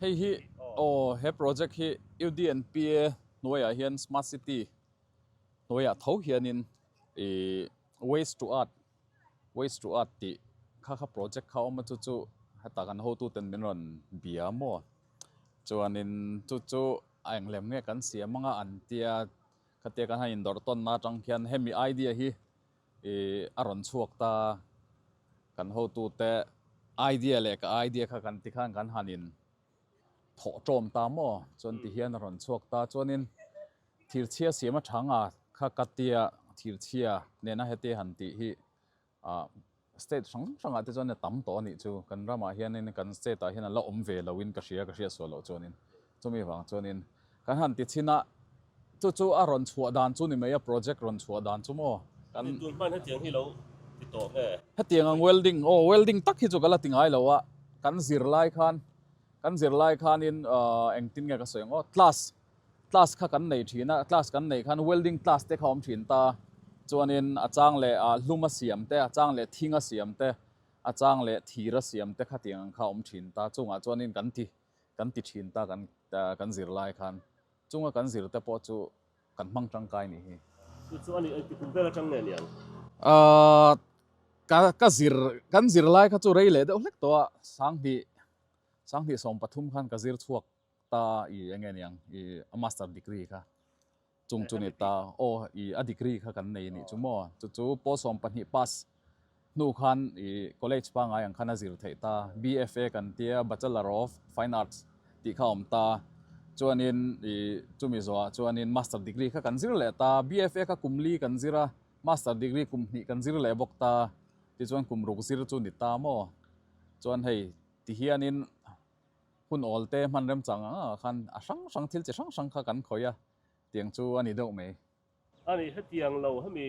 Hei hi aw he project hi UDNPA hnuaiah hian smart city hnuaiah tho hianin waste to art waste to art tih kha kha project kha awm a chu chu heta kan ho tu ten min rawn bia maw chuanin chu chu a englem nge kan siam anga an tia khatia kan han indawr tawn na atang khian hemi idea hi I a rawn chhuak ta kan hotu te idea leh ka idea kha kan ti khan kan han in thawh tawm ta maw chuan ti hian a rawn chhuak ta chuanin thirchhia siam a thanga kha ka tia thirchhia nena hete han tih hi ah state hrang hrangah te chuan a tam tawh a nih chu kan ramah hianin kan state ah hian a la awm ve lo in ka hria ka hriat sual loh chuanin Chumi vang chuanin kan han ti chhin a, chu chu a rawn chhuah dan chu ni mai a, project rawn chhuah dan chu maw? Kan. Ni tur hman hetiang hi lo ti tawh nge? Hetiang ang welding, aw welding tak hi chu ka la ti ngai lo a, kan zir lai khan, kan zir lai khanin aah engtin nge ka sawi ang aw class, class kha kan nei thin a, class kan nei khan welding class te kha awm thin ta, chuanin a chang leh aah hlum a siam te, a chang leh thing a siam te, a chang leh thir a siam te khatiang ang kha awm thin ta, chungah chuanin kan ti. kan ti thin ta kan kan zir lai khan chunga kan zir te pawh chu kan hmang tangkai ni hi. Chu chu a nih a ti kum vel atang nge ni ang? Ahh ka ka zir kan zir lai kha chu rei leh deuh hlek tawha Sanghnih Sanghnih sawmpathum khan ka zir chhuak ta i enge ni ang i a master degree kha. Chung chu ni ta, aw i a degree kha kan nei anih chu maw? Chu chu Paw Sawm pahnih pass hnu khan i college pangai ang khan a zir theih ta, BFA kan ti a, Bachelor of Fine Arts tih kha a awm ta. Chuanin i chumi zawhah chuanin Master degree kha kan zir leh ta, BFA kha kum li kan zir a, Master degree kum hnih kan zir leh bawk ta. Tichuan kum ruk zir chu ni ta maw? Chuan hei ti hianin. Hun awlte hman remchang ang ah khan a hrang hrang thil chi hrang hrang kha kan khawih a tiang chu a ni deuh mai. A nih hetiang lo, hemi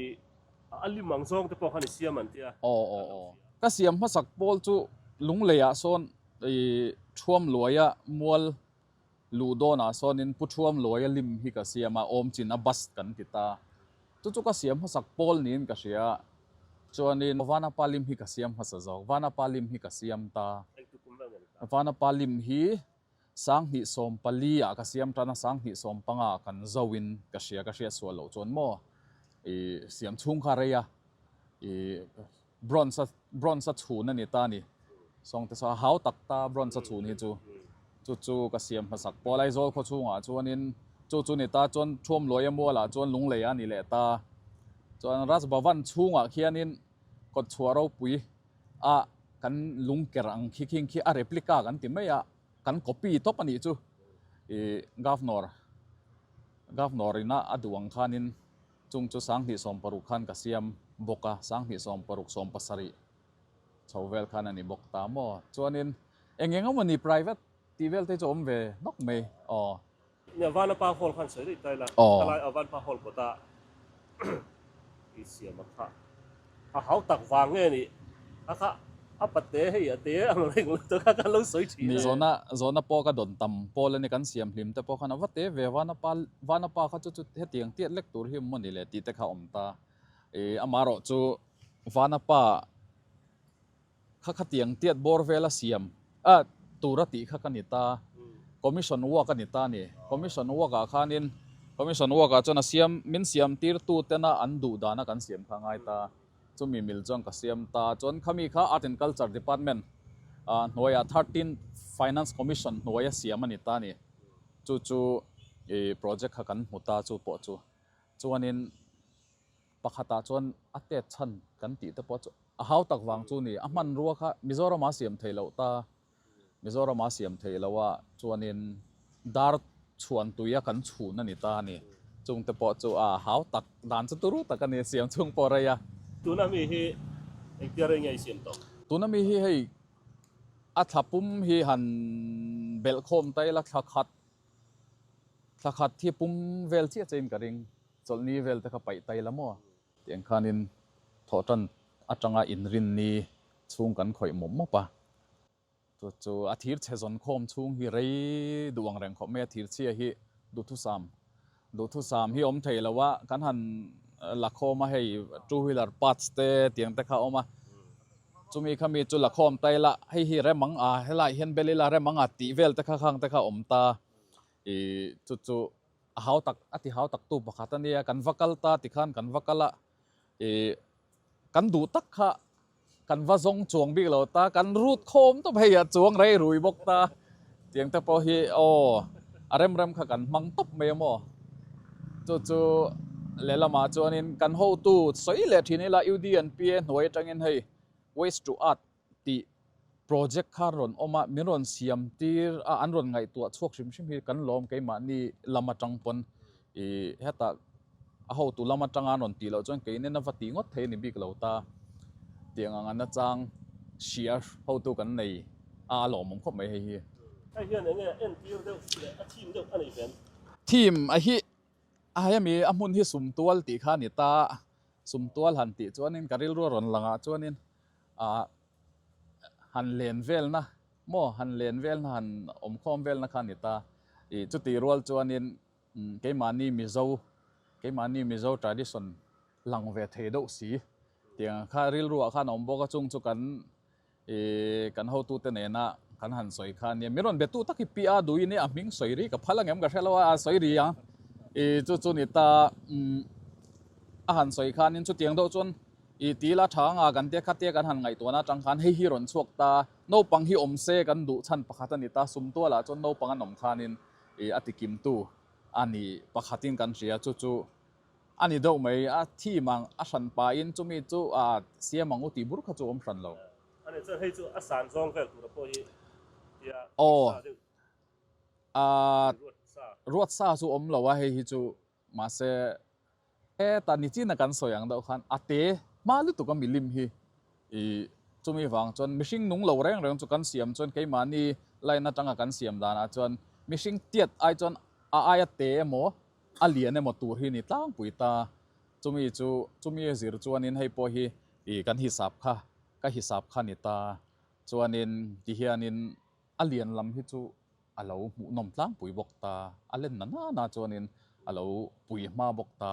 a lim ang zawng te pawh khan i siam an ti a. Aw aw aw. Ka siam hmasak pawl chu lunglei ah sawn i thuam luai a, mual luh dawn ah sawnin Pu Thuamluai a lim hi ka siam a, awmchin a bust kan ti ta. Chu chu ka siam hmasak Paul niin ka hria. Chuanin, Aw Vanapa Lim hi ka siam hmasa zawk. Vanapa Lim hi ka siam ta. Vanapa Lim hi sang hnih sawm pali ah ka siam tan a, sang hnih sawm panga kan zo in ka hria, ka hriat sual loh chuan maw i siam chhung kha a rei a. I. Bronze bronze chhun a ni ta ni. Sawngte saw a hau tak ta bronze chhun hi chu. Chu chu ka siam hma sak pawh. Laizawl khaw chhungah chuanin chu chu ni ta chuan Thuamluaia mualah chuan Lunglei a ni leh ta. Chuan Raj Bhavan chhungah khianin Kawtchhuah ropui a kan lungker ang khi khing khi a replica kan ti mai a, kan copy tawp a nih chu. Ih Governor, Governor ina a duh ang khanin. Chung chu sang hnih sawm paruk khan ka siam bawk a, sang hnih sawm paruk sawm pasarih chho vel khan a ni bawk ta maw? Chuanin eng eng emawni private tih vel te chu a awm ve nawk mai aw. Nia Vana Pa Hall khan sawi daih ta ila, ka lai a Vanpa Hall kawtah i siam a kha. A hau tak vang nge ni? A kha a pate hei a te ang reng lo te kha kan lo sawi thin e. Mizona Zona pawh ka dawn tam. Paul a ni kan siam hlim te pawh khan a va te ve. Vanapa Vanapa kha chu chu heti ang tiat lek tur hi maw ni le tih te kha a awm ta. Ih amah erawh chu Vanapa. Kha khatiang tiat bawr vel a siam a tur a tih kha ka ni ta, Commission work a ni ta ni. Commission work ah khanin, Commission work ah chuan a siam, min siamtirtu tena an duh dan a kan siam kha a ngai ta. Chumi mil chuan ka siam ta. Chuan khami kha Art and Culture Department ah hnuaiah Thirteen Finance Commission hnuai a siam a ni ta ni. Chu chu project kha kan hmu ta chu pawh chu. Chuanin. Pakhatah chuan a tet chhan kan tih te pawh chu a hau tak vang chu ni. A hmanrua kha Mizoram a siam thei loh ta, Mizoram a siam thei loh ah chuanin dar chhuan tui a kan chhun a ni ta a ni. Chung te pawh chu a hau tak, dan chu turu tak a ni, siam chung pawh rei a. Tuna mi hi engtia rei nge i siam tawh? Tuna mi hi hei a thla pum hi han belh khawm ta ila, thla khat, thla khat hi pum vel chiah chiahin ka ring. Chawlhni vel te kha paih tai la maw? Ti ang khanin thawhṭan aṭanga inrinni chhung kan khawih mawp mawp a. Chu chu a thir chhe zawn khawm chhung hi rei duh ang reng khawp mai a. Thir chhia hi duhthusam. Duhthusam hi awm thei lo a, kan han la khawm a, hei two wheeler parts te ti ang te kha a awm a. Chumi kha mi chu la khawm ta ila, hei hi remang a, helai hian bel ila remang a tih vel te kha khang te kha a awm ta. Ih chu chu. A hau tak, a ti hau taktu pakhat a nia, kan va kal ta ti khan kan va kal a, ih, kan duh tak kha kan va zawng chuang bik lo ta, kan rut khawm tawp hei a chuang rei rui bawk ta tiang te pawh hi aw a rem rem kha kan hmang tawp mai a maw. Chu chu lehlam ah chuan in kan hotu sawi leh thin ila UDNP e hnuai atang in hei waste to earth tih project kha rawn awm a min rawn siam tir a an rawn ngaihtuah chhuak hrim hrim hi kan lawm keimahni lam atang pawn ih heta a hotu lam atanga an rawn tih loh chuan keinen a va tih ngawt thei a ni bik lo ta tiang ang an achang hria hotu kan nei a a lawmawm khawp mai hei hi. Hei hian eng nge a en tir deuh si leh a thim deuh a nei ve an ti? Thim a hi a hemi a hmun hi sumtual tih kha a ni ta, sumtual han tih chuanin ka rilru a rawn langah chuanin Aa, han len velna maw, han len velna, han awm khawm velna kha a ni ta. I chuti rual chuanin keimahni Mizo, keimahni Mizo tradition lang ve thei deuh si tiang kha rilruah khan a awm bawk a. Chung chu kan i kan hotute nena kan han sawi kha a nia. Min rawn be tu tak hi pi a, Duin hi a hming sawi ri ka phal angem ka hre lo a, a sawi ri ang. I chu chu ni ta, a han sawi khanin chutiang deuh chuan, I ti la, tha anga kan tia khatia kan han ngaihtuahna atang khan hei hi rawn chhuak ta, naupang hi awm se kan duh chhan pakhat a ni ta, sumtualah chuan naupang an awm khanin i a tikimtu a ni pakhatin kan hria, chu chu a ni deuh mai, a thim ang a hran pahin chumi chu a siam ang u tih bur kha chu a awm hran lo. A ni chuan hei chu a san zawng vel tura pawh hi tia ruatsa deuh, ruatsa chu awm lo a hei hi chu. Mahse, heta nichin a kan sawi ang deuh khan a te hma lutuk a milim hi i. Chumi vang chuan mihring nung lo reng reng chu kan siam chuan keimahni line atanga kan siam danah chuan mihring tiat ai chuan a ai a te emaw a lian emaw tur hi a ni tlangpui ta. Chumi chu chumi zir chuanin hei pawh hi i kan hisap kha ka hisap kha a ni ta. Chuanin tihianin A lian lam hi chu a lo hmuh nawm tlangpui bawk ta, a len na nana chuanin a lo pui hma bawk ta.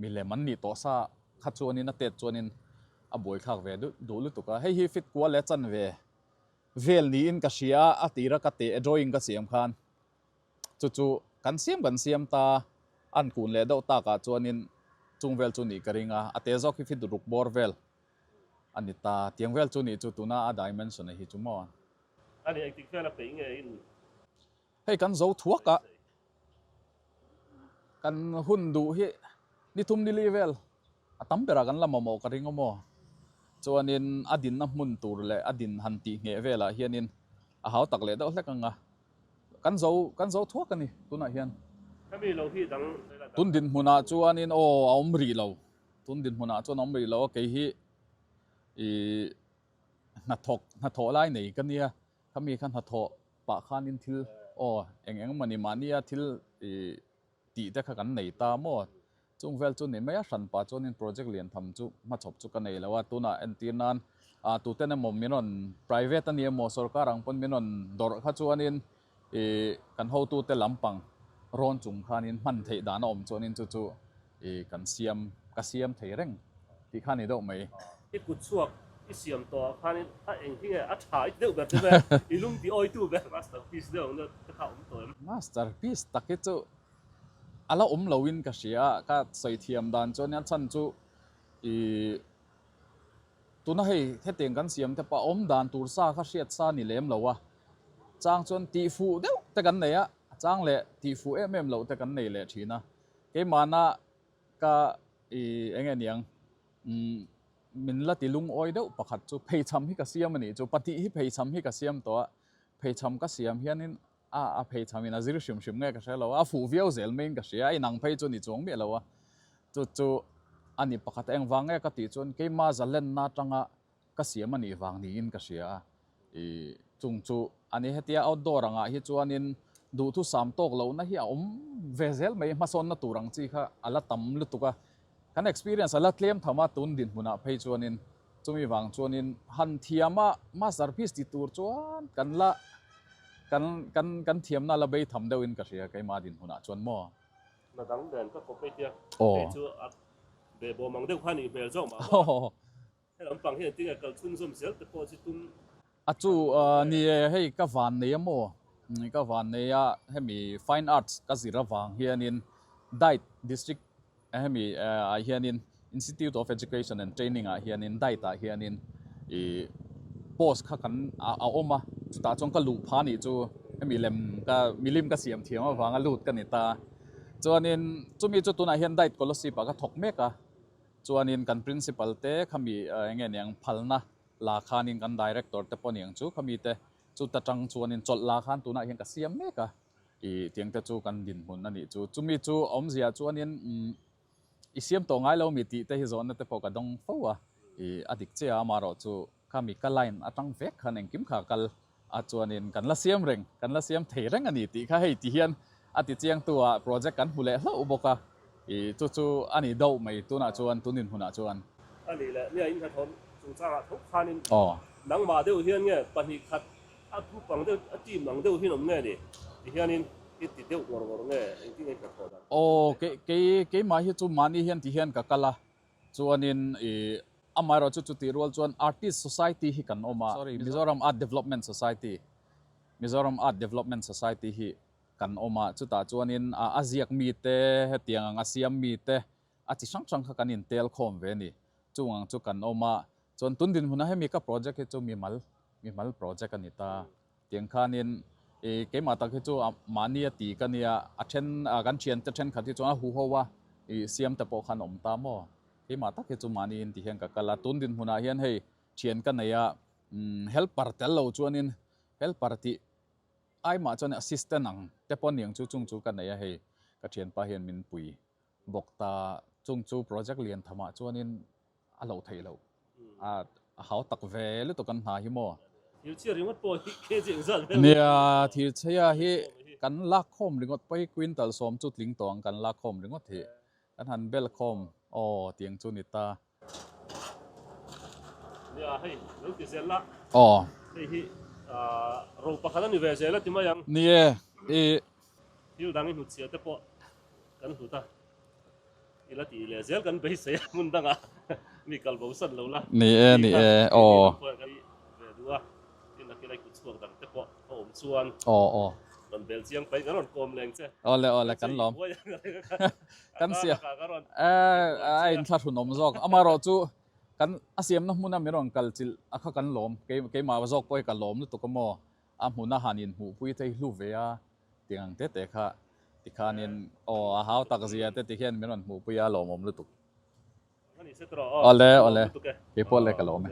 Milem an nih tawh sa kha chuanin a tet chuanin a buaithlak ve duh lutuk a, hei hi fit kual leh chan ve vel niin ka hria a tira ka teh drawing ka siam khan chu chu kan siam kan siam ta an kun leh deuh takah chuanin chung vel chu nih ka ring a, a teh zawk hi fit ruk bawr vel a ni ta. Tiang vel chu nih chu tuna a dimension a hi chu maw. A nih tik hian a peih nge in. Hei kan zo thuak a, kan hun duh hi ni thum ni li vel a tam berah kan la mamawh ka ring aw maw. Chuanin a dinna hmun tur leh a din han tih ngheh velah hianin a hau tak leh deuh hlek ang a. Kan zo, kan zo thuak a ni tunah hian. Hemi lo hi dang vel a dang. Tun dinhmunah chuanin aw a awm rih lo, tun dinhmunah chuan a awm rih lo a, kei hi i. Hnathawk, hnathawh lai nei ka nia, khami kha hnathawh pah khanin thil aw eng eng mawni mahnia thil tih te kha kan nei ta maw? Chung vel chu ni mai a, hran pah chuanin project lian tham chu hma chhawp chu ka nei lo a, tunah entir nan tuten emaw min rawn private a ni emaw sorkar ang pawn min rawn dawrh kha chuanin I kan hotute lam pang rawn chung khanin hman theih dan a awm chuanin chu chu i kan siam, ka siam thei reng tih kha a ni deuh mai. I kut chhuak i siam tawh ah khanin a eng hi nge a tha it deuh ber che ve, i lung ti awi tu ber. Masterpiece deuh ang deuh te kha awm tawh em? Masterpiece tak hi chu a la awm lo in ka hria a, ka sawi thiam dan chuan a chhan chu i tuna hei hetiang kan siam te pawh a awm dan tur sa kha hriat sa ni lem lo a. Chang chuan tihfuh deuh te kan nei a, a chang leh tihfuh em em loh te kan nei leh thin a. Keimahna ka ih eng nge niang umm min la ti lungawi deuh pakhat chu pheichham hi ka siam a nih chu, patih hi pheichham hi ka siam tawh a, pheichham ka siam hianin a a pheichham in a zir hrim hrim nge ka hre lo a, a fuh viau zel maiin ka hria a, inang phei chu a ni chuang miah lo a. Chu chu a ni pakhat a engvang nge ka tih chuan keima zalenna atanga Ka siam a nih vang niin ka hria a, i chung chu a ni. Hetia outdoor angah hi chuanin duhtu sam tawk lohna hi a awm ve zel mai, hmasawnna tur ang chi kha a la tam lutuk a, kan experience a la tlem tham a, tun dinhmunah phei chuanin. Chumi vang chuanin han thiama masterpiece ti tur chuan kan la kan kan kan thiamna a la bei tham deuh in ka hria keimah dinhmunah chuan maw. Na dang nen ka khawp mai tia, kei chu a beh bawm ang deuh kha a nih hmel zawk mah. Helampang hian tinge kal chhung zawm zel te pawh chu tum. A chu ni e, hei ka van nei amaw? Ka van nei a, hemi fine arts ka zir avang hianin Dait district hemi ah hianin Institute of Education and Training ah hianin Dait ah hianin i post kha kan a awm a, chutah chuan ka luh pha nih chu hemi lem ka milim ka siam thiam avanga lut ka ni ta. Chuanin chumi chu tunah hian Dait Colosip ah ka thawk mek a. Chuanin kan Principal te khami enge niang phalna la khanin kan Director te pawh niang chu khami te chu ta tang chuanin chawlh la khan tunah hian ka siam mek a i tiang te chu kan dinhmun a nih chu. Chumi chu a awm ziah chuanin umm i siam tawh ngai lo mi tih te hi zawnna te pawh ka dawng fo a i a dik chiah a amaherawh chu Kha mi ka line a tang vek khan engkim kha kal a chuanin kan la siam reng, kan la siam thei reng a ni tih kha hei ti hian a ti chiang tu a project kan hmu leh hlauh bawk a, i chu chu a nih dauh mai tunah chuan tun in hunah chuan. A nih leh nia in ka thawn chung changah tho khanin nangmah deuh hian nge pahnih khat a group ang deuh a team ang deuh hian awm nge ni ti hianin i ti deuh ngawr ngawr nge engtin a in ka thawn ang. Aw kei kei keimah hi chu mahni hian ti hian ka kal a Chuanin i amaherawh chu chutih rual chuan Artist Society hi kan awm a, sorry, Mizoram Art Development Society, Mizoram Art Development Society hi kan awm a, chutah chuanin a ziak mite, hetiang ang a siam mite a chi hrang hrang kha kan intel khawm ve a ni. Chung ang chu kan awm a, chuan tun dinhmuna hemi ka project hi chu mimal, mimal project a ni ta. Tiang khanin i keimah tak hi chu mahni a ti ka nia, a then a kan thiante thenkhat hi chuan a huho a, i siamte pawh khan awm ta maw? Keimah tak hi chu mahni in ti hian ka kal a, tun dinhmunah hian hei thian ka nei a, helper tel lo chuanin helper tih ai mah chuan assistant ang te pawh aniang chu chung chu ka nei a, hei ka thianpa hian min pui bawk ta, chung chu project lian thamah chuanin A hlo theih loh. Ahh, a hau tak ve lutuk kan hna hi maw? Thirchhia ringawt pawh hi khe chiang zat vel mai a. Thirchhia hi kan lak khawm ringawt pawh hi quintal sawm chu tling tawh ang kan lak khawm ringawt hi. Kan han bel khawm aw tiang chu ni ta. Nia, hei lo ti zel la. Aw. Hei hi, ahh, ro pakhat a ni ve zel a ti mai ang. Ni e. I Thil dangin hnu chhiah te pawh kan hlut a, i la tih leh zel kan beisei a, hmun dangah mi kal bo san lo la, ni e ni e aw. Awle awle kan lawm kan sia a in thla hrun awm zawk amarawh chu kan a siamna hmuna min rawn kalchilh a kha kan lawm keimah zawk pawh hi ka lawm lutuk a maw A hmuna han inhmuhpui thei hlu ve a, tiang ang te te kha. Tikhanin, Aw, a hau tak zia te ti hian min rawn hmuhpui a, lawmawm lutuk. Awle, awle, keipawh le ka lawm e.